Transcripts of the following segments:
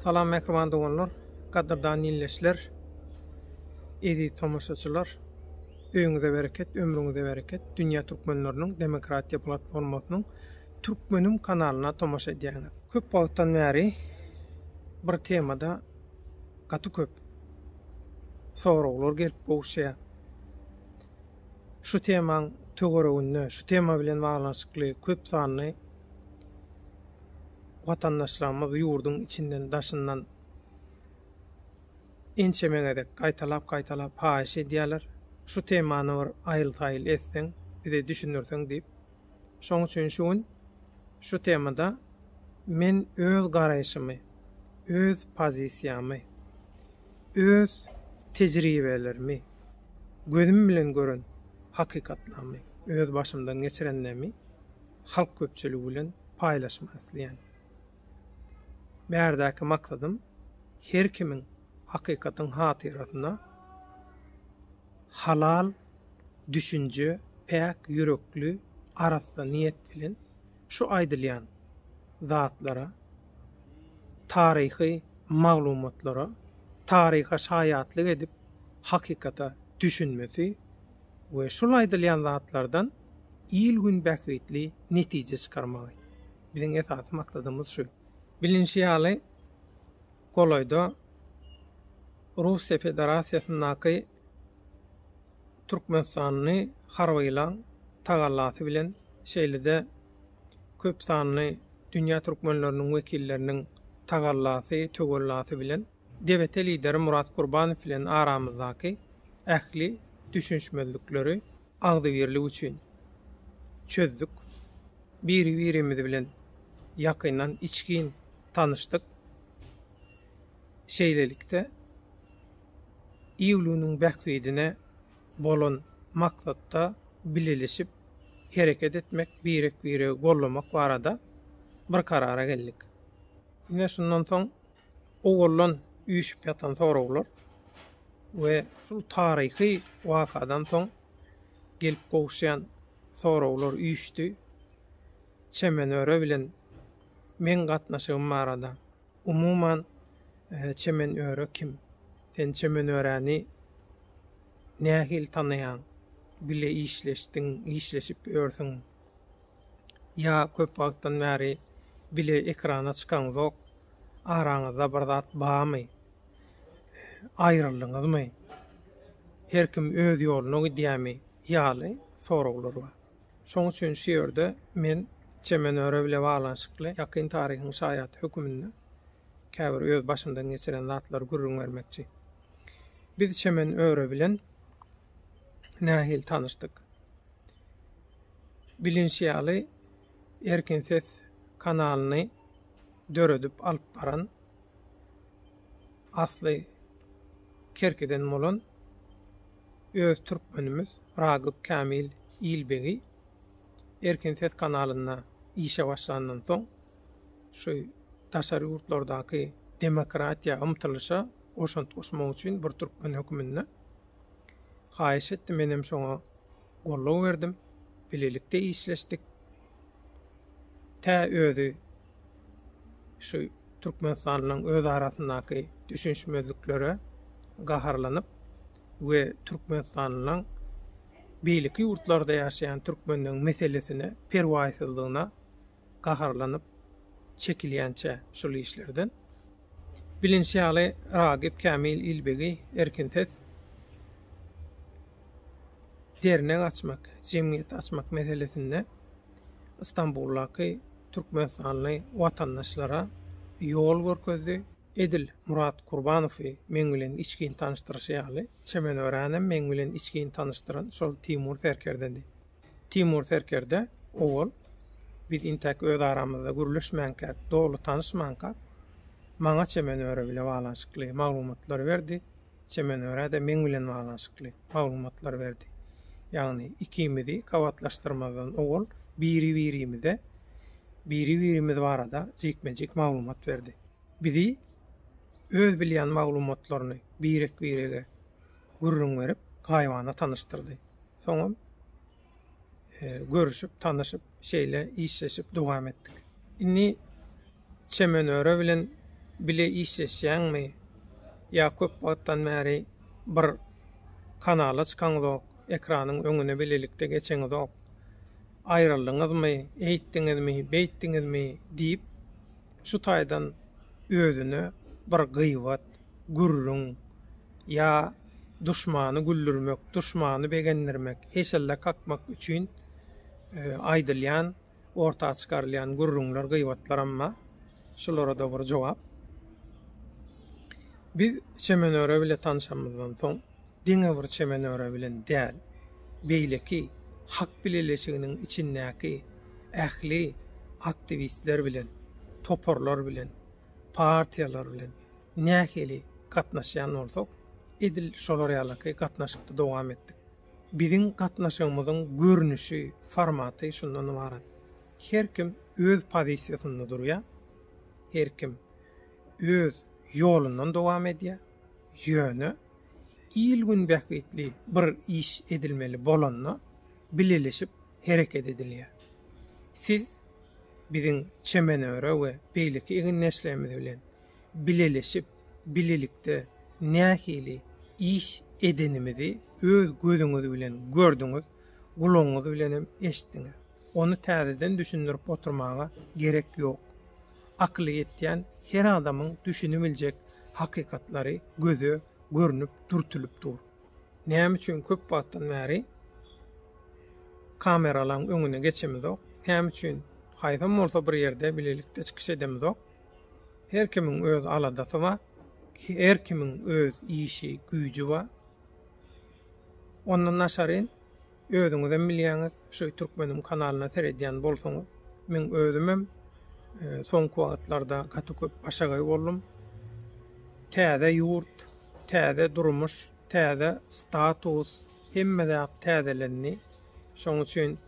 Salam mähriban doganlar, gadyrdan ýilleşler, eziz tomaşaçylar. Öýüňize bereket, ömrüňize bereket. Dünýä türkmenleriniň demokratiýa platformasynyň Türkmenim kanalyna tomaşa edýäňiz. Köp wagtdan bäri bir temada gaty köp soraglar gelip gowuşýar. Şu temaň töwereginde, şu tema bilen baglanyşykly köp sanly watandaşlarymyz ýurduň içinden, daşyndan ençeme gezek gaýtalap-gaýtalap haýyş edýärler, şu temany bir aýyl-saýyl etseň, bize düşündirseň diýip. Şoň üçin şu gün şu temada men öz garaýşymy, öz pozisiýamy, öz tejribelerimi, gözüm bilen gören hakykatlamy, öz başymdan geçirenlemi halk köpçüligi bilen paýlaşmak isleýän. Bärdäki maksadym her kimiň hakykatyň hatyrasyna halal, düşünje, päk ýürekli, arassa niýet bilen şu aýdylýan zatlara, taryhy maglumatlara, taryha şaýatlyk edip, hakykata düşünmesi we şul aýdylýan zatlardan il-gün bähbitli netije çykarmagy. Biziň esasy maksadymyz şu. Bilinşi ýaly, golaýda Russiýa Federasiýasyndaky Türkmenistanly harbylaň tagallasy bilen şeýle-de köp sanly dünýä türkmenleriniň wekilleriniň tagallasy, töwellasy bilen DBT lideri Murat Gurbanow bilen aramyzdaky ähli düşünişmezlikleri agzybirlik üçin çözdük. Biri-birimiz bilen ýakyndan içgin tanyşdyk. Şeýlelikde, ýigilunyň bähbidine bolan maksatda bileleşip hereket etmek, birek-biregi gollamak barada bir karara geldik. Ine, şundan soň owaldan üýşüp ýatan soraglar we şul taryhy wakadan soň gelip gowuşýan soraglar üýşdi. Çemenöre bilen meň gatnaşygym barada. Umuman, Çemenöre kim? Sen Çemenöräni nähili tanaýaň? Bile işleşdiň, işleşip ýörsüň. Ýa köp wagtdan bäri bile ekrana çykaňzok? Araňyzda bir zat barmy? Aýryldyňyzmy? Her kim öz ýoluna gidýärmi? ýaly soraglar bar. Şoň üçin şu ýerde men Çemenöre bile baglanyşykly ýakyn taryhyň şaýady höküminde käbir öz başymdan geçiren zatlary gürrüň bermekçi. Biz Çemenöre bilen nähili tanyşdyk? Bilinşi ýaly, Erkin ses kanalyny döredip alyp baran asly Kerkiden bolan öz türkmenimiz Ragyp Kämil Ilbegi Erkin ses kanalynda işe başlandan soň, şu daşary ýurtlardaky demokratiýa ymtylyşa goşant goşmak üçin bir türkmen höküminde haýyş etdi. Menem şoňa. goldaw berdim, bilelikde işleşdik. Tä özi şu Türkmenistanyň öz arasyndaky düşünişmezliklere gaharlanyp we Türkmenistanyň beýleki ýurtlarda ýaşaýan türkmenleň meselesine perwaýsyzlygyna gaharlanyp çekilýänçä şul işlerden. Bilinşi ýaly, Ragip Kämil Ilbegi Erkin ses dernek açmak, jemgyýet açmak meselesinde Stambuldaky türkmenistanly watandaşlara ýol görkezdi. Edil Murat Kurbanowy meň bilen içgin tanyşdyryşy ýaly, çemen öränem meň bilen içgin tanyşdyran şol Timur serkerdedi. Timur serkerde owal biz intäk öz aramyzda gürleşmänkäk, doly tanyşmanka, maňa Çemenöre bile baglanyşykly maglumatlary berdi, Çemenöre-de meň bilen baglanyşykly maglumatlary berdi. Ýagny ikimizi gabatlaşdyrmazdan owal biri-birimize biri-birimiz barada jikme-jik maglumat berdi. Bizi öz bilýän maglumatlaryny birek-birege gürrüň berip, gaýybana tanyşdyrdy. Soňam görüşip, tanyşyp, şeýle işleşip dowam etdik. Indi Çemenöre bilen bile işleşýäňmi? Ýa köp wagtdan bäri bir kanala çykaňyzok, ekranyň öňüne bilelikde geçeňizok? Aýryldyňyzmy, eýtdiňizmi, beýtdiňizmi diýip, şu taýdan özüne bir gybat, gürrüň ýa duşmany güldürmek, duşmany begendirmek, heşelle kakmak üçin aýdylýan, orta çykarylýan gürrüňler, gybatlaram bar. Şulara-da bir jogap. Biz Çemenöre bile tanşamyzdan soň, diňe bir Çemenöre bilen däl, beýleki Hak bileleşiginiň içindäki ähli aktiwistler bilen, toparlar bilen, partiýalar bilen, Nähili gatnaşýan bolsak, edil şolar ýalyky gatnaşykda dowam etdik. Biziň gatnaşygymyzyň görnüşi, formaty şundan ybarat. Her kim öz pozisiýasynda durýar, her kim öz ýolundan dowam edýär, ýöne il-gün bähbitli bir iş edilmeli bolanda bileleşip hereket edilýär. Siz biziň Çemenöre we beýleki egindeşlerimiz bilen bileleşip, bilelikde nähili iş edenimizi öz gözüňiz bilen gördüňiz, gulagyňyz bilenem eşitdiňiz. Ony täzeden düşündirip oturmaga gerek ýok. Akyly ýetýän her adamyň düşünibiljek hakykatlary göze görnüp dürtülip dur. Näme üçin köp wagtdan bäri kameralaryň öňüne geçemizok? Näme üçin haýsam bolsa bir ýerde bilelikde çykyş edemizok? Her kimiň öz aladasy bar. Her kimiň öz işi, güýji bar. Ondan daşaryn özüňizem bilýäňiz, şu Türkmeniň kanalyna seredýän bolsaňyz, men özümem e, soňky wagtlarda gaty köp başagaý boldum. Täze ýurt, täze durmuş, täze status, hemme zat täzelendi. Şoň üçin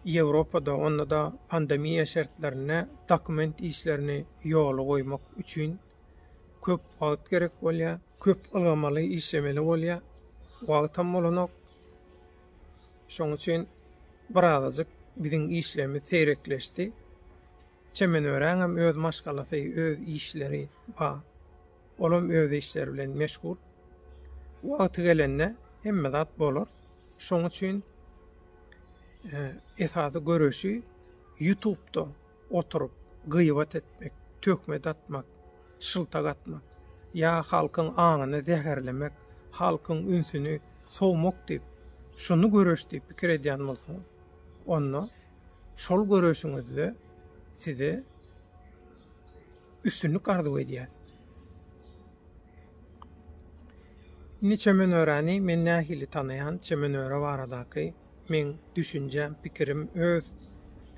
Ýewropada, onda-da pandemiýa şertlerinde dokument işlerini ýola goýmak üçin köp wagt gerek bolýar, köp ylgamaly, işlemeli bolýar. Wagtam bolanok. Şonuň üçin birazajyk biziň işlerimiz seýrekleşdi. Çemen öräňem öz maşgalasy, öz işleri bar. Olam öz işleri bilen meşgul. Wagty gelende hemme zat bolar. Şoň üçin e, esasy göreşi YouTube-da oturyp gyýbat etmek, töhmet atmak, şyltak atmak ýa halkyň aňyny zäherlemek, halkyň ünsüni sowmak diýip, şuny göreş diýip pikir edýän bolsaňyz, onda şol göreşiňizde size Üstünlik arzuw edýäs. Indi Çemenöräni men nähili tanaýan, Çemenöre baradaky meň düşünjäm, pikirim, öz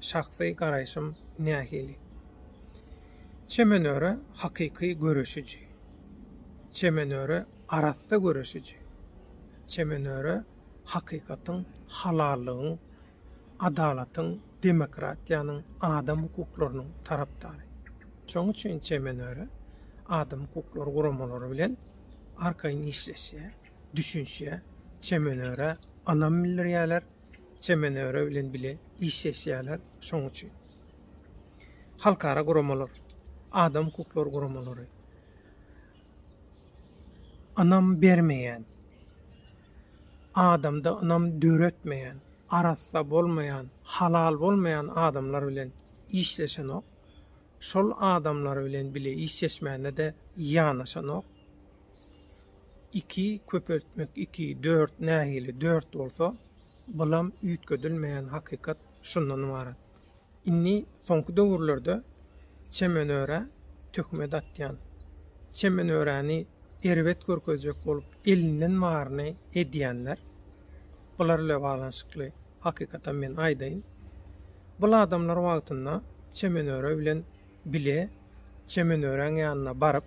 şahsy garaýşym nähili? Çemenöre hakyky göreşiji. Çemenöre arassa göreşiji. Çemenöre hakykatyň, halallygyň, adalatyň, demokratiýanyň, adam hukuklarynyň tarapdary. Şonuň üçin Çemenöre adam hukuklary guramalary bilen arkaýyn işleşýär, düşünişýär, Çemenörä ynam bildirýärler, Çemenöre bilen bile işleşýärler. Şonuň üçin halkara guramalar, adam hukuklary guramalary ynam bermeýän, adamda ynam döretmeýän, arassa bolmaýan, halal bolmaýan adamlar bilen işleşenok, şol adamlar bilen bile işleşmände-de ýanaşanok. Iki köpeltmek iki, dört nähili dört bolsa, bulam üýtgedilmeýän hakykat şundan ybarat. Indi soňky döwürlerde çemenörä töhmet atýan, çemenöräni erbet görkezjek bolup elinden baryny edýänler, bular bilen baglanyşykly hakykatam men aýdaýyn. Bul adamlar wagtynda çemenöre bilen bile çemenöräň ýanyna baryp,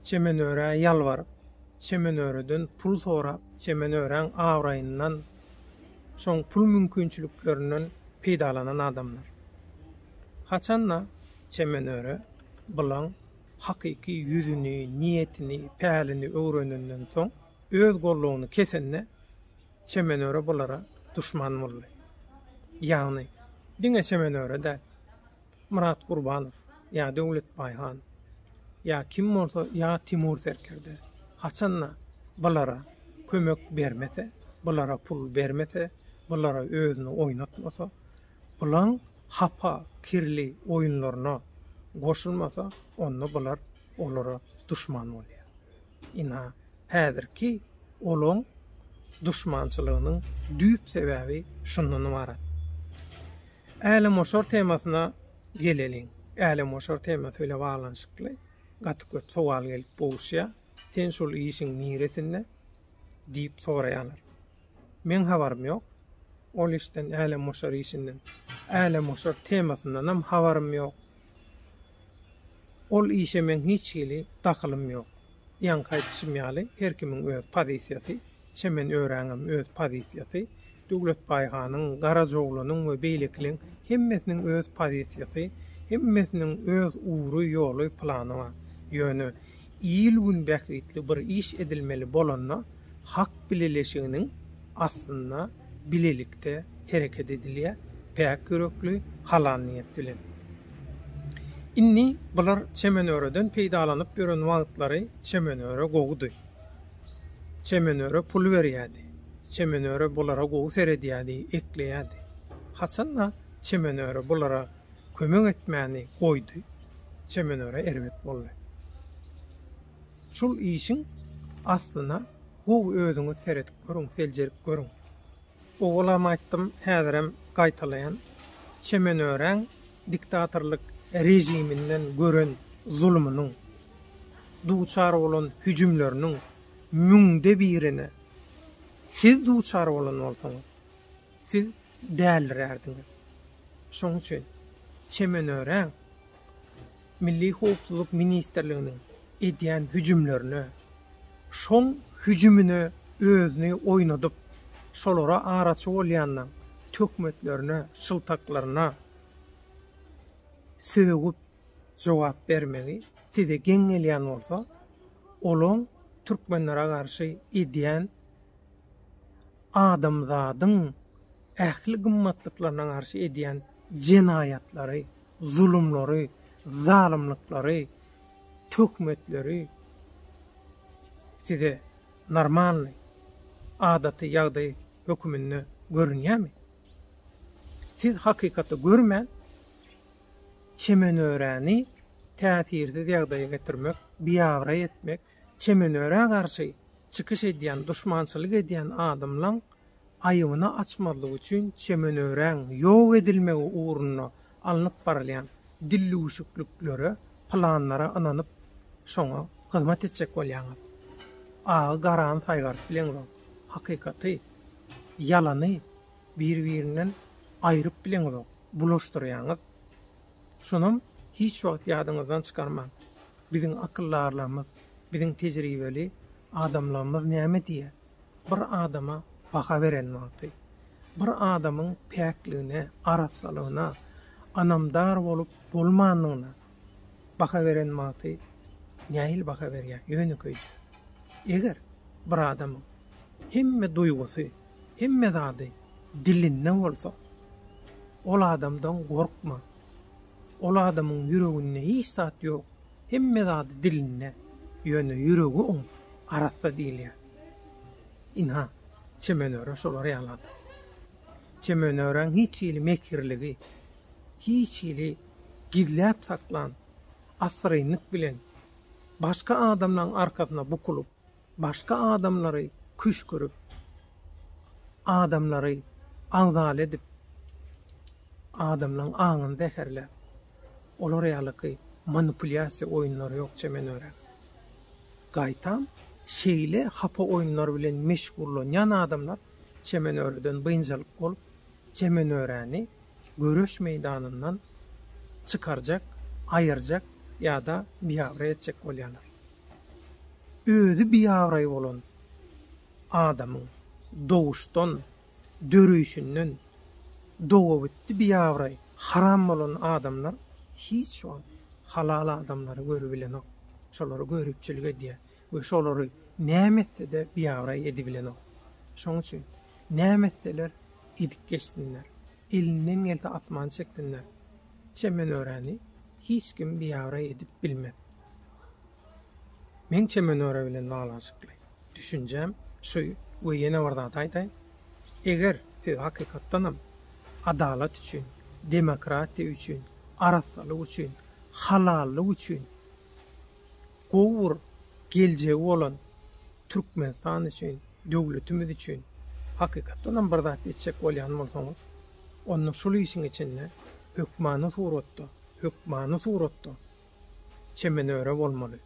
çemenörä ýalbaryp, çemenöreden pul sorap, çemenöräň abraýyndan şoň pul mümkinçiliklerinden peýdalanan adamlar. Haçan-da Çemenöre Bylaň hakyky ýüzüni, niýetini, pälini öwrenenden soň, öz gollugyny kesende Çemenöre Bylara duşman boldy. Ýagny, diňe Çemenöre däl, Myrat Gurbanow ýa Döwletbaý han, ýa kim bolsa ýa Timur serkerde haçan-da bulara kömek bermese, bulara pul bermese, bulara özüni oýnatmasa, bulaň hapa, kirli oýunlaryna goşulmasa, onda bular olara duşman bolýar. Ina, häzirki olaň duşmançylygynyň düýp sebäbi şundan ybarat. Älemgoşar temasyna geleliň. Älemgoşar temasy bilen baglanyşykly gaty köp sowal gelip gowuşýar. Sen şol işiň niresinde? diýip soraýarlar. Meň habarym ýok. Ol işden, älemgoşar işinden. Älemgoşar temasyndanam habarym ýok. Ol işe meň hiç hili dahylym ýok. Ýaňky aýdyşym ýaly, her kimiň öz pozisiýasy, çemen öräňem öz pozisiýasy, Döwletbaý hanyň, Garajoglunyň we beýlekileň hemmesiniň öz pozisiýasy, hemmesiniň öz ugry, ýoly, plany bar. Ýöne, il-gün bähbitli bir iş edilmeli bolanda hak bileleşiginiň astynda bilelikde hereket edilýär, päk ýürekli, halal niýet bilen. Indi bular Çemenöreden peýdalanyp ýören wagtlary Çemenöre gowudy. Çemenöre pul berýärdi. Çemenöre bulara gowy seredýärdi, ekleýärdi. Haçan-da Çemenöre bulara kömek etmäni goýdy, Çemenöre erbet boldy. Şul işiň aslyna gowy özüňiz seredip görüň, seljerip görüň. Owalam aýtdym, häzirem gaýtalaýan, Çemenöräň diktatorlyk režiminden gören zulumynyň, duçar bolan hüjümleriniň müňde birine siz duçar bolan bolsaňyz, Siz dälirärdiňiz. Şonuň üçin çemen öräň. Milli howpsuzlyk ministrliginiň edýän hüjümlerine, şoň hüjümine özüni oýnadyp, şolara araçy bolýanyna, töhmetlerine, şyltaklaryna sögüp jogap bermegi size geň gelýän bolsa, olaň türkmenlere garşy edýän adamzadyň ähli gymmatlyklaryna garşy edýän jenaýatlary, zulumlary, zalymlyklary, töhmetleri size normalnyý, adaty ýagdaý höküminde görünýärmi? Siz hakykaty görmän, çemenöräni täsirsiz ýagdaýa getirmek, biabraý etmek, Çemenöre garşy çykyş edýän, duşmançylyk edýän adamlaň aýybyny açmazlyk üçin Çemenöräň ýok edilmegi ugrunda alnyp barylýan dillüwşükliklere, planlara ynanyp, şoňa hyzmat etjek bolýaňyz. Agy garany saýgaryp bileňzoň, hakykaty, ýalany bir-birinden aýryp bileňzok, bulaşdyrýaňyz. Şunam hiç wagt ýadyňyzdan çykarmaň. Biziň akyldarlarymyz, biziň tejribeli adamlarymyz näme diýýär, Bir adama baha beren wagty, bir adamyň päkligine, arassalygyna, ynamdar bolup bolmandygyna baha beren wagty nähili baha berýär? Ýönekeýje. Eger bir adamyň hemme duýgusy, Hemme zady dilinde bolsa, ol adamdan gorkma. Ol adamyň ýüreginde hiç zat ýok. Hemme zady dilinde, ýöne ýüregi oň arassa diýilýär. Ynha, Çemenöre şolar ýaly adam. Çemenöräň hiç hili mekirligi, hiç hili gizläp saklan, assyrynlyk bilen, başga adamlaryň arkasyna bukulyp, Başga adamlary küşgürip, adamlary agzaly edip, adamlaň aňyny zäherläp, olar ýalyky manipulýasiýa oýunlary ýok çemen örän. Gaýtam, şeýle hapa oýunlar bilen meşgullanýan adamlar çemen öreden biynjalyk bolup, çemen öräni göreş meýdanyndan çykarjak, aýyrjak ýa-da biabraý etjek bolýarlar. Özi biabraý bolan adamyň doguşdan, döreýşinden dogabitdi biabraý, haram bolan adamlar hiç wagt halal adamlary görübilenok, şolara göripçilik edýär we şolary näme etse-de biabraý edibilenok. Şonuň üçin näme etseler edip geçsinler. Elinden gelse asman şeklinde çemenöreni hiç kim biabraý edip bilmez. Meň çemenöre bilen baglanyşykly düşünjem şu we ýene bir zat aýdaýyn. Eger siz hakykatdanam adalat üçin, demokratiýa üçin, arassalyk üçin, halallyk üçin Gowy bir geljegi bolan Türkmenistan üçin, döwletimiz üçin hakykatdan hem bir zat etjek bolýan bolsaňyz, onda şul işiň içinde hökmany suratda, hökmany suratda çemen öre bolmaly,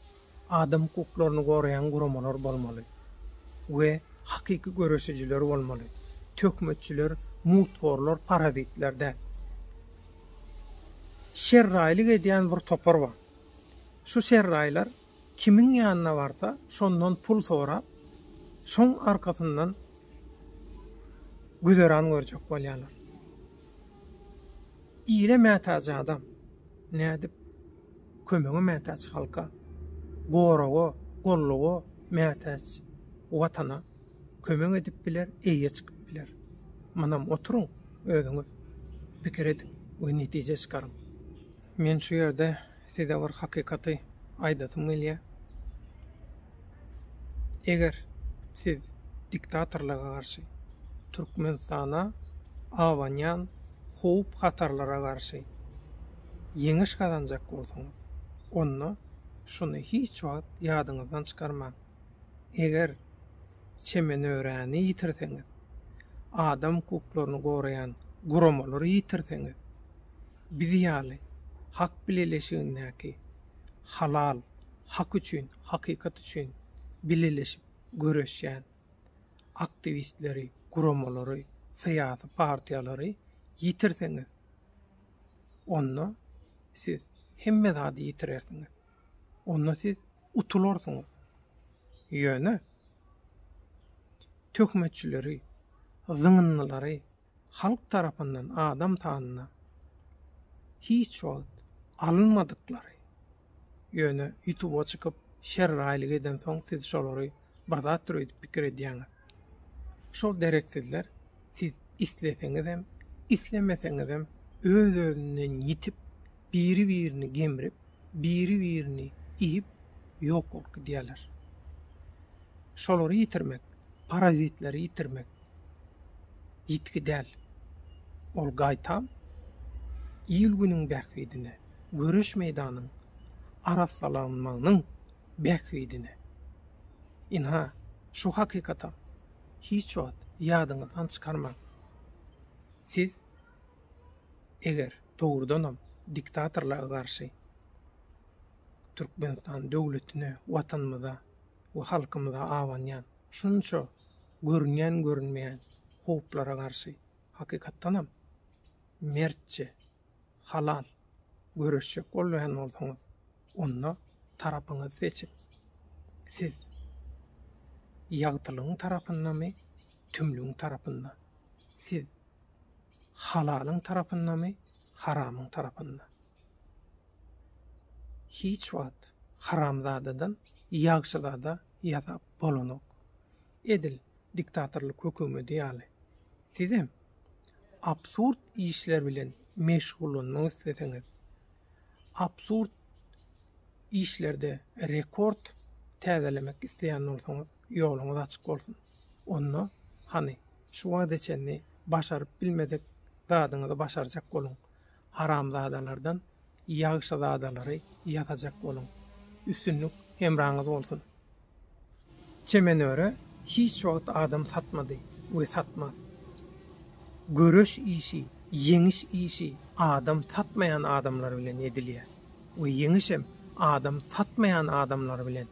adam hukuklaryny goraýan guramalar bolmaly we hakyky göreşijiler bolmaly, töhmetçiler, muthorlar, parazitler däl. Şerraýlyk edýän bir topar bar. Şu serraýlar kimiň ýanyna barsa, şondan pul sorap, şoň arkasyndan güzeran görjek bolýarlar. Ile mätäç adam, nädip, kömege mätäç halka, goraga, golluga mätäç Watana kömek edip biler, eýe çykyp biler. Munam oturyň, özüňiz pikir ediň we netije çykaryň. Men şu ýerde size bir hakykaty aýdasym gelýär. Eger siz diktatorlyga garşy, Türkmenistana abanýan howp-hatarlara garşy ýeňiş gazanjak bolsaňyz, onda şuny hiç wagt ýadyňyzdan çykarmaň, eger Çemenöräni ýitirseňiz, adam hukuklaryny goraýan guramalary ýitirseňiz, Biz ýaly Hak bileleşigindäki halal, hak üçin, hakykat üçin bileleşip göreşýän aktiwistleri, guramalary, syýasy partiýalary ýitirseňiz, onda siz hemme zady ýitirersiňiz. Onda siz utularsyňyz. Ýöne töhmetçileri, zyňyndylary, halk tarapyndan adam sanyna hiç wagt alynmadyklary, ýöne ýutuba çykyp şerraýlyk edensoň siz şolary bir zatdyr öýdüp pikir edýäňiz. Şol dereksizler siz isleseňizem, islemeseňizem öz-özünden ýitip, biri-birini gemrip, biri-birini iýip ýok bolup gidýärler. Şolary ýitirmek, parazitleri ýitirmek ýitgi däl. Ol gaýtam il-günüň bähbidine, göreş meýdanyň arassalanmagynyň bähbidine. Ynha, şu hakykatam hiç wagt ýadyňyzdan çykarmaň. Siz eger dogrudanam diktatorlyga garşy Türkmenistan döwletine, Watanymyza we halkymyza abanýan şunça görünýän-görünmeýän howplara garşy hakykatdanam mertçe, halal göreşjek bolýan bolsaňyz, onda tarapyňyzy seçiň. Siz ýagtylygyň tarapyndamy, tümlügiň tarapynda? Siz halalyň tarapyndamy, haramyň tarapynda? Hiç wagt haramzadadan ýagşyzada ýasap bolanok. Edil diktatorlyk hökümedi ýaly. Sizem absurd işler bilen meşgullanmak isleseňiz, absurd işlerde rekord täzelemek isleýän bolsaňyz, Ýoluňyz açyk bolsun. Onda, hany, şu wagta çenli başaryp bilmedik zadyňyzy başarjak boluň. Haramzadalardan ýagşyzadalary ýasajak boluň. Üstünlik hemraňyz bolsun! Çemenöre hiç wagt adam satmady we satmaz. Göreş işi, ýeňiş işi adam satmaýan adamlar bilen edilýär we ýeňişem adam satmaýan adamlar bilen.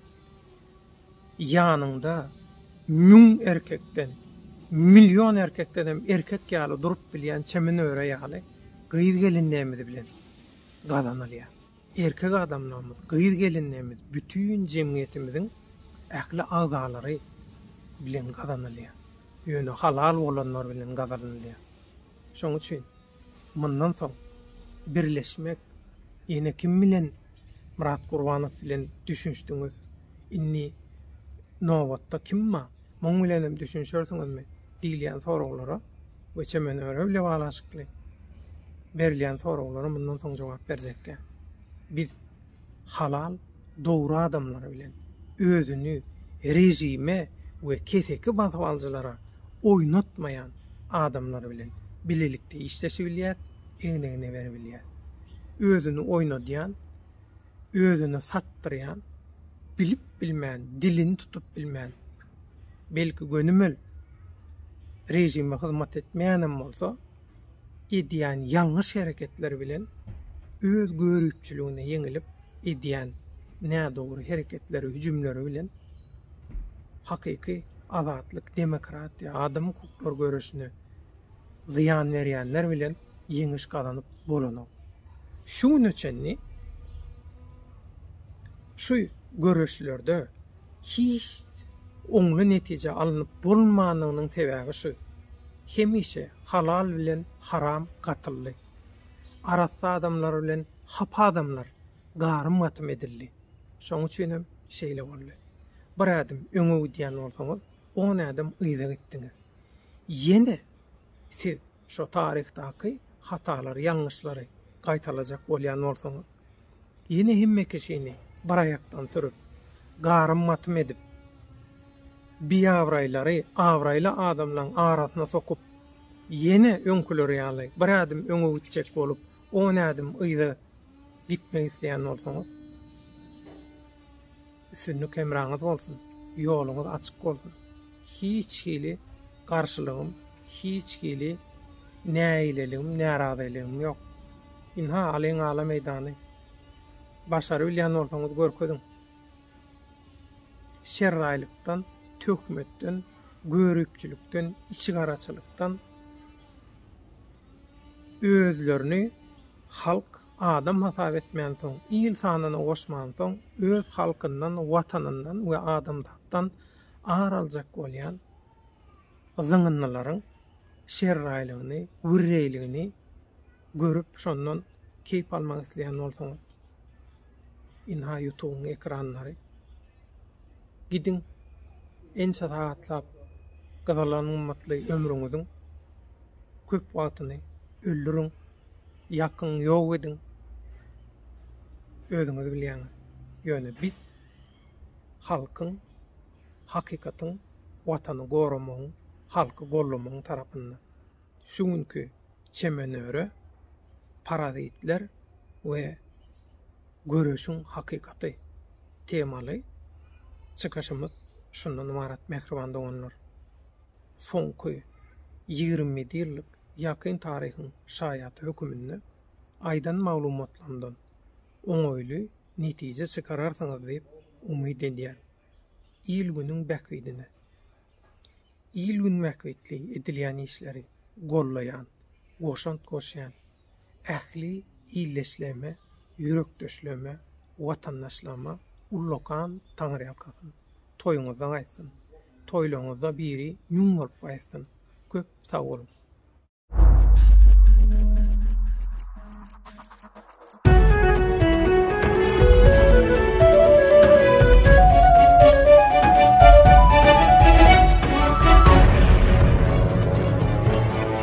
Ýanyňda müň erkekden, million erkekdenem erkek ýaly durup bilýän çemen öre ýaly gyz gelinlerimiz bilen gazanylýar. Erkek adamlarymyz, gyz gelinlerimiz bütin jemgyýetimiziň ähli agzalary bilen gazanylýar. Ýöne halal bolanlar bilen gazanylýar. Şonuň üçin Mundan soň birleşmek ýene kim bilen Myrat Gurbanow bilen düşünişdiňiz indi nobatda kim ba muň bilenem düşünişersiňizmi diýilýän soraglara we çemen öre bile baglanyşykly berilýän soraglara mundan soň jogap berjekkä biz halal, dogry adamlar bilen özüni režime we keseki basyp alyjylara oýnatmaýan adamlar bilen bilelikde işleşibilýär, egnegine beribilýär. Özüni oýnadýan, özüni satdyrýan, bilip bilmän, dilini tutup bilmän, belki gönümel režime hyzmat etmeýänem bolsa, edýän ýalňyş hereketleri bilen öz görüpçiligine ýeňilip edýän nädogry hereketleri hüjümleri bilen hakyky azatlyk demokratiýa adam hukuklary göreşine zyýan berýänler bilen ýeňiş gazanyp bolanok şu güne çenli şu göreşlerde hiç oňly netije alnyp bolmandygynyň sebäbi şu, hemişe halal bilen haram gatyldy. Arassa adamlar bilen hapa adamlar garym-gatym edildi. Şoň üçin hem şeýle boldy. Bir ädim öňe gidýän bolsaňyz, on ädim yza gitdiňiz. Ýene siz Şu taryhdaky hatalary, ýalňyşlary gaýtalajak bolýan bolsaňyz, ýene hemme kişini bir aýakdan sürüp, garym-matym edip, biabraýlary abraýly adamlaryň arasyna sokup, ýene öňküleri ýaly bir ädim öňe gitjek bolup, on ädim yza gitmek isleýän bolsaňyz, Üstünlik hemraňyz bolsun, ýoluňyz açyk bolsun. Hiç hili garşylygym, hiç hili nägileligim, närazyligim ýok. Ynha, alyň ala meýdany. Başarybilýän bolsaňyz görkeziň. Şerraýlykdan, töhmetden, göripçilikden, içigaraçylykdan özlerini halk Adam hasap etmänsoň, il sanyna goşmansoň, öz halkyndan, Watanyndan we adamzatdan ar aljak bolýan zyňyndylaryň şerraýlygyny, wirreýligini görüp, şondan keýp almak isleýän bolsaňyz, ynha ýutubyň ekranlary. Gidiň, ençe sagatlap gyzalan gymmatly ömrüňiziň köp wagtyny öldüriň. ýakyň, ýok ediň. Özüňiz bilýäňiz. Ýöne biz halkyň, hakykatyň, Watany goramagyň, halky gollamagyň tarapynda. Şu günki çemenöre Parazitler we göreşiň hakykaty temaly çykyşymyz şundan ybarat, mähriban doganlar. soňky ýigrimidi ýyllyk ýakyn taryhyň şaýaty höküminde aýdan maglumatlarymdan oňaýly netije çykararsyňyz diýip umyt edýän. Il-günüň bähbidine. Il-gün bähbitli edilýän işleri gollaýan, goşant goşýan. ähli ildeşlerime, ýürekdeşlerime, watandaşlaryma ullakan taňyrýalkasyn! Toýuňyzda gaýtsyn! Toýlaryňyzda biri müň bolup gaýtsyn! Köp sag boluň!